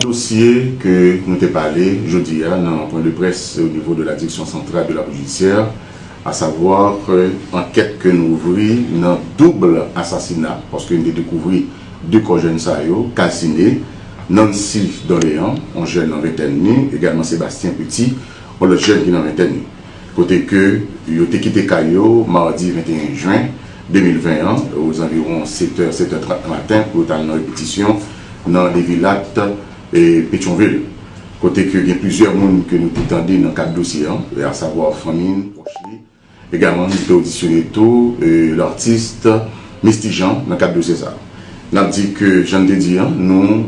Dosye ke nou te pale jodi a nan pwen de près o nivo de la Direksyon Santral de la Polis Jidisyè, a savwa ke ankèt ke nou ouvri nan doubl asasina, paske nou te dekouvri 2 kò jèn sa yo kalsine, Nancy Dorlean, on jèn nan ventèn ni, egalman Sébastien Petit, on lòt jèn ki nan ventèn ni. kote ke yo te kite kay yo madi 21 jen 2020 an ozanviwon 7 è, 7 è 30 maten pou yo tal nan repetisyon nan Levilat, Petyonvil, kote ke gen plizyè moun ke nou te tande nan kad dosye an, asavwa fanmi l, pwòch li, egalman nou te odisyone tou lartist Misty Jean nan kad dosye sa. Nap di ke jan n te di an, nou.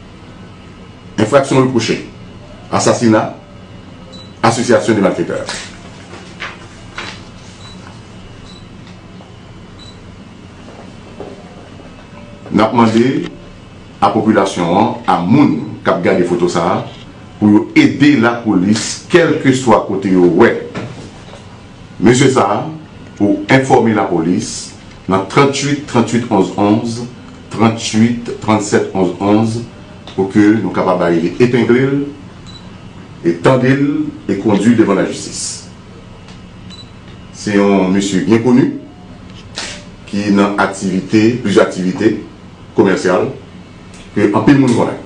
Enfraksyon repwoche, Asasina, Asosyasyon de malfetè. N ap mande a popilasyon an, a moun k ap gade foto sa a, pou yo ede lapolis kèlkeswa kote yo wè mesye sa a, pou enfòme lapolis nan 38 38 11 11. 38 37 11 11 pou ke nou kapab arive epengle l e tande l e kondwi l devan lajistis. Se yon mesye byen koni ki nan aktivite, plizyè aktivite komèsyal ke anpil moun konnen.